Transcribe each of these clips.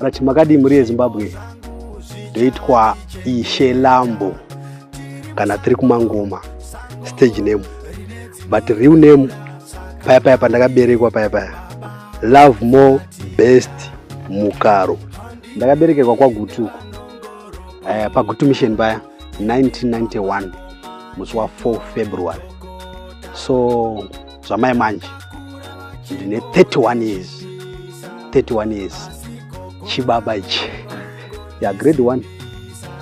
Rati makadii mhuri yeZimbabwe ndoitwa Ishe Lambo kana tiri kumangoma stage name but real name paya paya pandakaberekwa paya paya love more best mukaro ndakaberekerwa kwagutuko uh, eh, pagutu mission paya 1991 musi wa 4 february so zvamai manje ndine 31 years 31 years chibaba ichi ya grade 1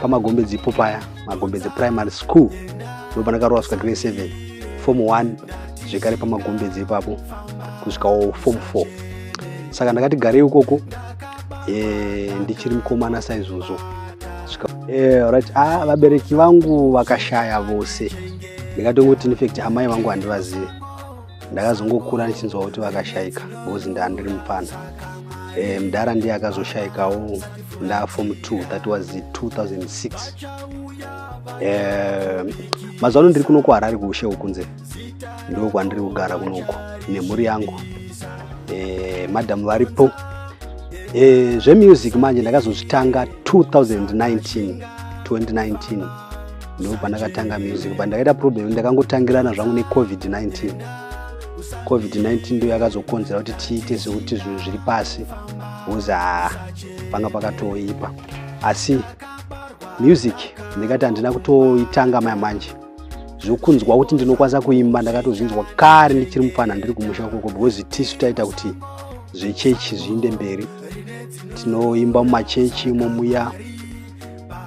pamagombedzi ipo paya magombedzi primary school ndopandakarowa svika grade 7 form 1 zvekare pamagombedzi ipapo kusvikawo form 4 saka ndakati garei ukoko eh, ndichiri mukomana saizvozvo eh, right ah, vabereki vangu vakashaya vose ndikatongoti infact amai vangu handivazive ndakazongokura ndichinzwa kuti vakashaika because ndaandiri mupfana eh, mdhara ndiye akazoshaikawo ndafom 2 that was 2006 eh, mazuva ano ndiri kuno kuharari kuushe ukunze ndo kwandiri kugara kunoko nemhuri yangu eh, madhamu varipo eh, zvemusic manje ndakazozvitanga 2019 2019 ndo pandakatanga music but ndakaita problem ndakangotangirana zvangu necovid-19 covid-19 ndo yakazokonzera kuti tiite sekuti zvinhu zviri pasi bcause ha panga pakatoipa asi music ndikati handina kutoitanga maya manje zvokunzwa kuti ndinokwanisa kuimba ndakatozvinzwa kare ndichiri mupfana ndiri kumusha koko because tisu taita kuti zvechechi zviinde mberi tinoimba mumachechi imomuya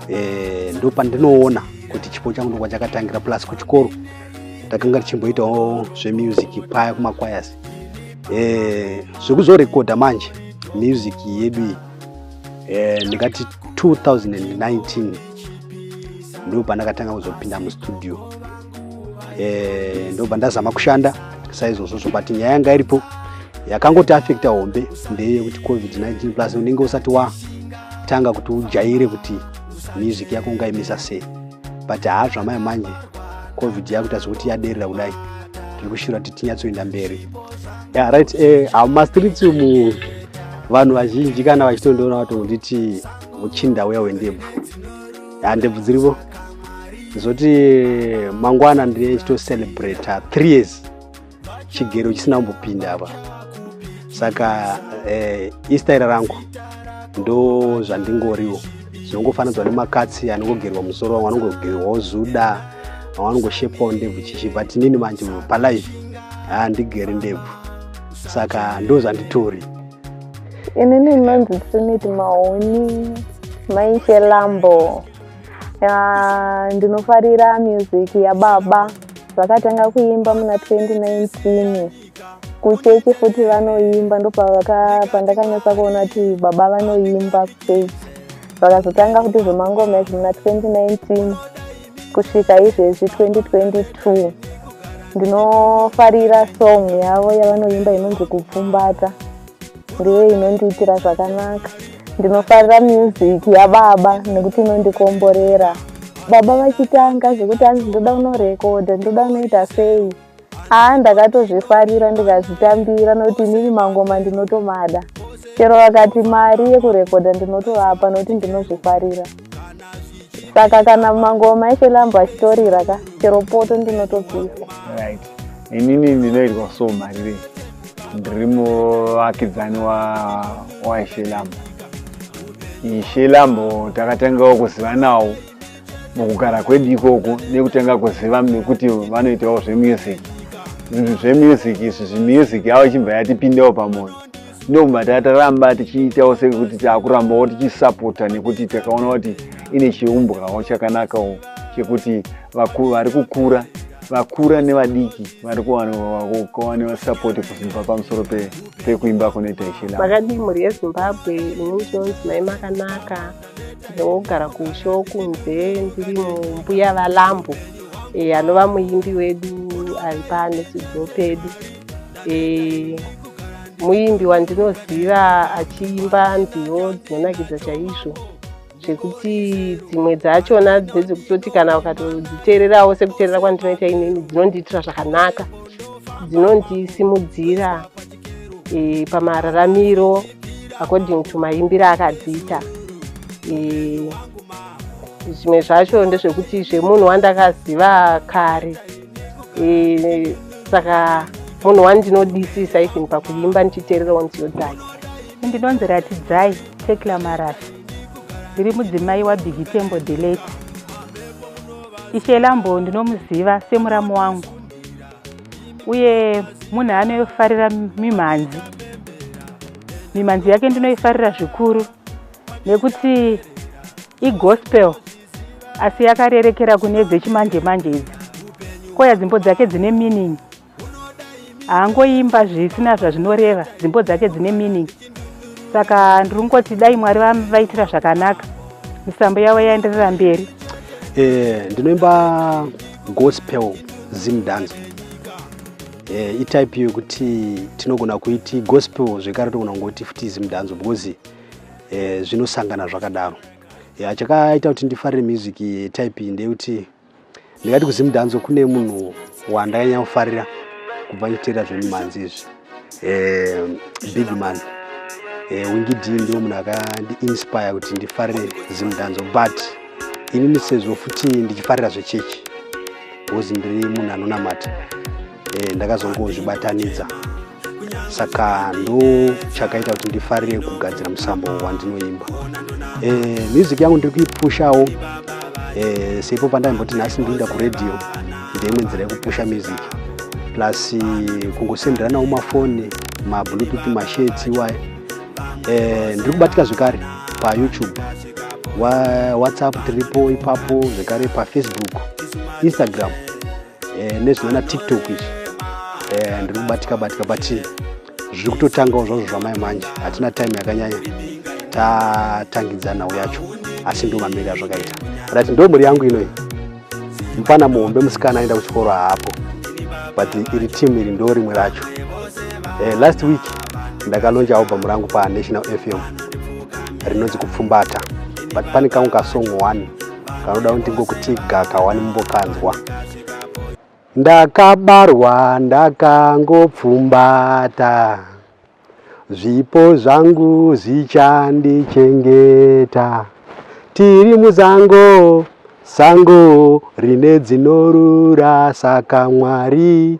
eh, ndo pandinoona kuti chipo changu ndokwa chakatangira plus kuchikoro takanga tichimboitawo zvemusic paya kumakwayas eh, zvekuzorekodha manje music yedu iyi eh, ndikati 2019 ndo pandakatanga kuzopinda mustudio eh, ndobva ndazama kushanda saizvozvo zvobati nyaya yanga iripo yakangoti afekta hombe ndeyekuti covid-19 plus unenge usati watanga kuti ujaire kuti music yako ungaimisa sei but haa zvamai manje covid yakuita zvekuti yaderera kudai tiri kushira kuti tinyatsoenda mberi yeah, right eh, hamastreets uh, umu vanhu vazhinji kana vachitondiona vatongonditi muchinda uya wendebvu ya ndebvu dziripo zoti mangwana ndine chitocelebrata three years chigero chisina kumbopinda apa saka eh, istaira rangu ndo zvandingoriwo zvinongofanidzwa nemakatsi anongogerwa musoro vamwe anongogerwawo zuda vamwe anongoshepwawo ndebvu chichi but inini manje palife handigeri ndebvu saka ndo zvanditori inini inonzi trinity mahoni maishe lambo ya ndinofarira music yababa vakatanga kuimba muna 2019 kuchechi futi vanoimba ndopandakanyatsa kuona kuti baba vanoimba kuchechi vakazotanga kuti zvemangoma izvi muna 2019 kusvika izvezvi 2022 ndinofarira song yavo yavanoimba inonzi kupfumbata ndiyo inondiitira zvakanaka ndinofarira music yababa nekuti inondikomborera baba vachitanga zvekuti hanzi ndoda unorekodha ndoda unoita sei haa ndakatozvifarira ndikazvitambira nokuti inini mangoma ndinotomada chero vakati mari yekurekodha ndinotovapa nokuti ndinozvifarira saka kana mangoma eshe lambo achitorira ka chero poto ndinotopisa right inini ndinoitwa so marirei ndiri muvakidzani waishe lambo ishe lambo takatangawo kuzivanawo mukugara kwedu ikoko nekutanga kuziva nekuti vanoitawo zvemusic zvinhu zvemusic izvi zvimusic yavo ichibva yatipindawo pamwoyo ndokubva tataramba tichiitawo sekuti takurambawo tichisapota nekuti takaona kuti ine chiumbwawo chakanakawo chekuti vari kukura vakura nevadiki vari kuwanewa sapoti kubva pamusoro pekuimba kunoita ichila makadii mhuri yezimbabwe ini ndinonzi mai makanaka ndogara kumusha wokunze ndiri mumbuya valambo e, anova muimbi wedu ari panesudzo pedu e, muimbi wandinoziva achiimba nziyo dzinonakidza chaizvo zvekuti dzimwe dzachona dzedzekutoti kana ukatodziteererawo sekuteerera kwandinoita inini dzinondiitira zvakanaka dzinondisimudzira e, pamararamiro according to maimbiro akadziita e, zvimwe zvacho ndezvekuti zvemunhu wandakaziva kare e, saka munhu wandinodisisa even pakuimba ndichiteererawo nziyo dzake ndinonzi ratidzai tekla marasha ndiri mudzimai wabigitembo delete ishe lambo ndinomuziva semuramu wangu uye munhu anofarira mimhanzi mimhanzi yake ndinoifarira zvikuru nekuti igospel asi yakarerekera kune dzechimanje manje idzi koya dzimbo dzake dzine meaning haangoimba zvisina zvazvinoreva dzimbo dzake dzine meaning saka ndiri kungoti dai mwari vaitira zvakanaka misambo yavo yaenderera mberi eh, ndinoimba gospel zim dance eh, itype yekuti tinogona kuiti gospel zvekare togona kungoti futi zim dance because eh, zvinosangana zvakadaro yeah, chakaita kuti ndifarire music type ndeyekuti ndingati kuzimdanzo kune munhu wandakanyanya kufarira kubva ndichiteera zvemimhanzi izvi eh, big man eh, wingidi ndiwo munhu akandiinspire kuti ndifarire zimdanzo but inini sezvo futi ndichifarira zvechechi bcause ndiri munhu anonamata eh, ndakazongozvibatanidza saka ndo chakaita kuti ndifarire kugadzira musambo wandinoimba e, music yangu ndiri kuipushawo e, seipo pandaimboti nhasi ndinoenda kuradio ndeimwe nzira yekupusha music plus kungosenderanawo mafoni mabluetooth mashades iwayo e, ndiri kubatika zvekare payoutube whatsapp tiripo ipapo zvekare pafacebook instagram eh, nezvinana tiktok izvi eh, ndiri kubatika batika but zviri kutotangawo zvazvo zvamai manje hatina time yakanyanya tatangidza nhau yacho asi ndo mamiri azvakaita rat ndo mhuri yangu inoyi mufana muhombe musikana aenda kuchikoro haapo but iri timu iri ndo rimwe racho eh, last week ndakalonja album rangu panational fm rinonzi kupfumbata but pane kangu kasong one kanoda kuti ngokuti gaka wani mumbokanzwa ndakabarwa ndakangopfumbata zvipo zvangu zvichandichengeta tiri muzango sango rine dzinorura saka mwari